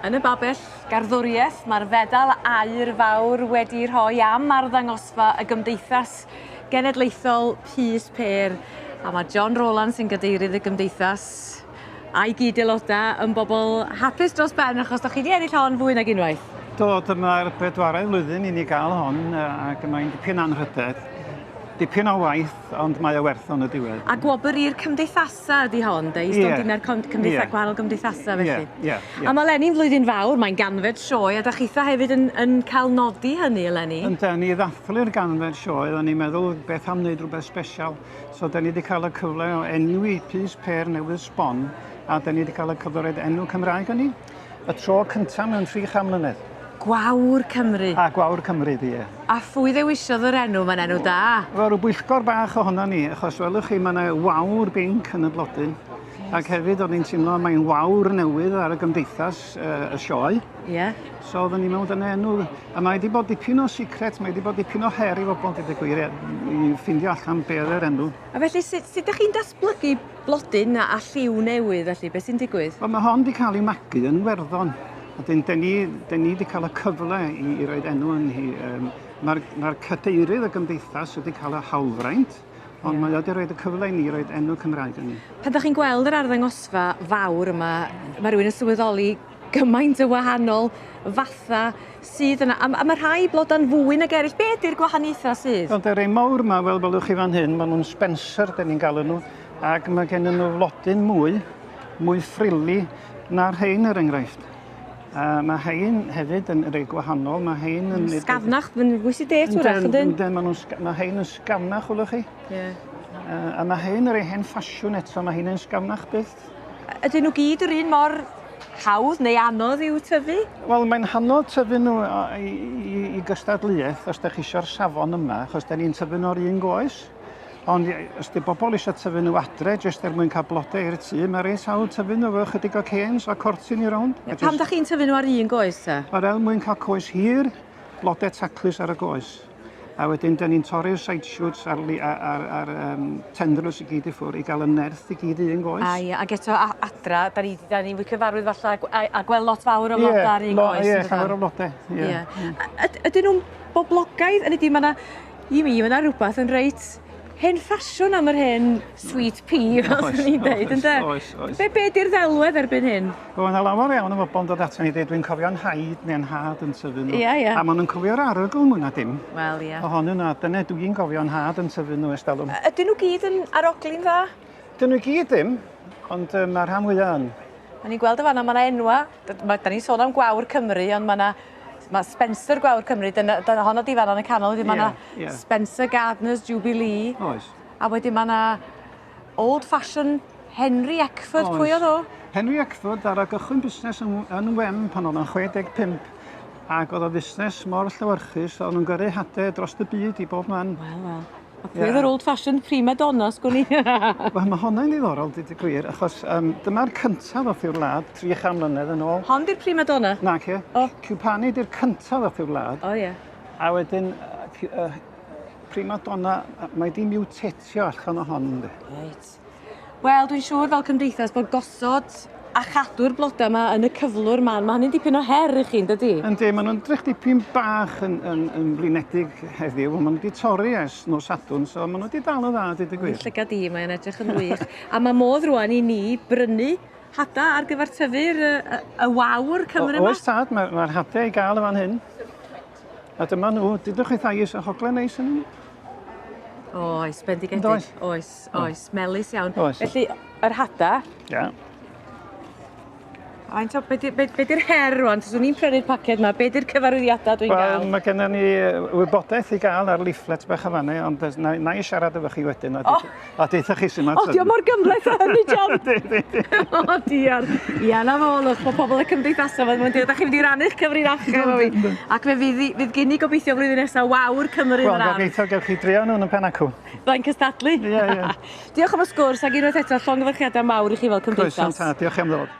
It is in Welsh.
Yn y babell garddwriaeth, mae'r fedal aur fawr wedi rhoi am arddangosfa y Gymdeithas Genedlaethol Pys Pêr, a mae John Rowlands sy'n gadeirydd y Gymdeithas, a'i gyd-aelodau yn bobl hapus dros ben achos da chi wedi ennill hon fwy nag unwaith. Do, dyma'r bedwaredd flwyddyn i ni gael hon ac mae'n dipyn anrhydedd. Dipyn o waith, ond mae o werth o'n y diwedd. A gwobr i'r cymdeithasau ydy hon, de? I stondinau'r cymdeithasau, yeah. gwahanol gymdeithasau felly. Yeah, yeah, yeah. A mae Leni'n flwyddyn fawr, mae'n ganfed sioe, a da chitha hefyd yn, yn cael nodi hynny eleni. Ynda, ni ddathlu'r ganfed sioe, o'n i'n meddwl beth am wneud rhywbeth special. So da ni wedi cael y cyfle o enwi pys pêr newydd sbon a da ni wedi cael y cyfle roed enw Cymraeg yn ni. Y tro cyntaf mewn tri cham mlynedd. Gwawr Cymru. A Gwawr Cymru, ie. A phwy ddewisiodd yr enw? Mae'n enw da. Wel, rhyw bwyllgor bach ohono ni, achos welwch chi, mae yna wawr binc yn y blodyn. Ac hefyd, o'n i'n teimlo mae'n wawr newydd ar y gymdeithas, uh, y sioe. Ie. Yeah. So oedden ni mewn dan enw, a mae wedi bod dipyn o secret, mae wedi bod dipyn o her i fobl gyda gwir i ffindio allan be oedd yr enw. A felly sut, sut ydych chi'n datblygu blodyn a, a lliw newydd felly, beth sy'n digwydd? Wel mae hon wedi cael ei magu yn Werddon, a dyn, dyn ni, dyn ni wedi cael y cyfle i, i roed enw yn hi. Um, Mae'r ma cadeirydd y gymdeithas wedi cael y hawlfraint, ond yeah. mae wedi rhoi y cyfle i ni roed enw Cymraeg yn ni. Pan ydych chi'n gweld yr arddangosfa fawr yma, mae rhywun yn sylweddoli gymaint o wahanol fatha sydd yna a m- a ma' rhai bloda'n fwy nag eryll. Be' ydi'r gwahaniaetha' sydd? Wel de rei mowr 'ma fel welwch chi fan hyn ma' nw'n Spencer 'dyn ni'n galw nw ag ma' gennyn nw flodyn mwy mwy frilly na rhein er enghraifft. A ma' rhein hefyd yn rei gwahanol ma' rhein yn... Yn sgafnach fyn- fwy sedate 'w'rach ydyn? Yndyn ma' nw'n sg- ma' rhein yn sgafnach welwch chi. Ie. Yy a ma' rhein y rei hen ffasiwn eto ma' rhein yn sgafnach byth. bwyd. Ydyn nhw gyd yr un mor hawdd neu anodd i'w tyfu? Wel mae'n hanodd tyfu nhw i, i, i gystadleuaeth os da chi eisiau'r safon yma, achos da ni'n tyfu nhw o'r un goes. Ond os di bobl eisiau tyfu nhw adre, jyst er mwyn cael blodau i'r tŷ, mae reit hawdd tyfu nhw efo chydig o canes a cortyn i rownd. Just... Pam da chi'n tyfu nhw ar un goes ta? Wel, er mwyn cael coes hir, blodau taclus ar y goes. A wedyn, da ni'n torri'r side shoots a'r, ar, ar, um, tendrils i gyd i ffwrdd i gael y nerth i gyd un goes. A ie, ac eto adra, da ni, da ni wedi cyfarwydd falle a, a gweld lot fawr o flodau yeah, ar un lo, goes. Ie, yeah, llawer o flodau. Yeah. Yeah. Yeah. Ydyn nhw'n boblogaidd? Yn ydy, mae yna, i mi, mae yna rhywbeth yn reit hen ffasiwn am yr hen sweet pea fel Oes, swn i'n oes, deud ynde? oes, oes. Be' be' 'di'r ddelwedd erbyn hyn? Wel, ma' 'na lawer iawn o bobol yn dod ato ni a deud dwi'n cofio 'nhaid ne' 'nhad yn tyfu nhw. Ia, ia. A ma' nw'n cofio'r arogl mwy na dim. Wel, ia. Ohonyn nhw a dyne dwi'n gofio 'nhad yn tyfu nhw ers dalwm. Yy ydyn nhw gyd yn arogli'n dda? Dyn nhw i gyd ddim, ond yy ma' rhan fwya yn. O'n i'n gweld yn fan 'na ma' 'na enwa', d- ma' 'dan ni'n sôn am gwawr Cymru ond ma' 'na Mae Spencer Gwawr Cymru, dyna, dyna honno di fan yn y canol, wedyn mae yna yeah, yeah. Spencer Gardner's Jubilee. Oes. A wedyn mae yna Old Fashion Henry Eckford, Oes. pwy oedd o? Henry Eckford ar y gychwyn busnes yn, yn Wen pan oedd yn 65 ac oedd o fusnes mor llywyrchus, oedd nhw'n gyrru hade dros y byd i bob man. Wel, wel. A pwy oedd yr old fashioned prima donna sgwn i? Wel mae honna'n ddiddorol dweud y gwir achos um, dyma'r cyntaf ddoth i'r wlad 300 mlynedd yn ôl. Hon di'r prima donna? Na ce. O. Oh. Cwpani di'r cyntaf ddoth i'r wlad. O oh, ie. Yeah. A wedyn uh, uh, prima donna, mae di miwtetio allan o hon. Reit. Wel dwi'n siŵr fel cymdeithas bod gosod a chadw'r bloda 'ma yn y cyflwr 'ma ma' hynny'n dipyn o her i chi yndydi? Yndi ma' nw'n 'drych dipyn bach yn yn yn flinedig heddiw on' ma' n'w 'di torri ers nos Sadwrn so ma' n'w 'di dal yn dda deud y gwir. Llygad di mae o'n edrych yn wych. A ma' modd rŵan i ni brynu hada ar gyfer tyfu'r yy y y wawr Cymru 'ma? O- oes tad ma' ma'r hade i ga'l yn fan hyn. A dyma n'w dudwch chwithau is y hogle neis ynnyn n'w? Oes bendigedig. Yndoes? Oes. Oes, oes, melus iawn. Oes. Felly, yr hada. Ia. Faint o, be di'r her rwan? Tys ni'n prynu'r paced yma, be di'r cyfarwyddiadau dwi'n gael? Wel, mae gennym ni wybodaeth i gael ar leaflet bach o fannu, ond na, na i siarad efo chi wedyn, a, oh. a deitha chi sy'n ma'n... O, diolch mor gymlaeth o hynny, John! o, diar. Ia, na fo, lwch, mae pobl y cymdeithasau fan mwyn dweud, da chi'n mynd i rannu'ch cyfrinachau efo fi. Ac fe fydd, fydd gen i gobeithio flwyddyn nesaf wawr Cymru yn yr ardd. Wel, gobeithio gewch chi drio nhw'n y pen acw. Flaen cystadlu. Ie, yeah, ie. Yeah. Diolch am y sgwrs ac unwaith eto llongyfarchiadau mawr i chi fel cymdeithas. Croeso tad, diolch am ddod.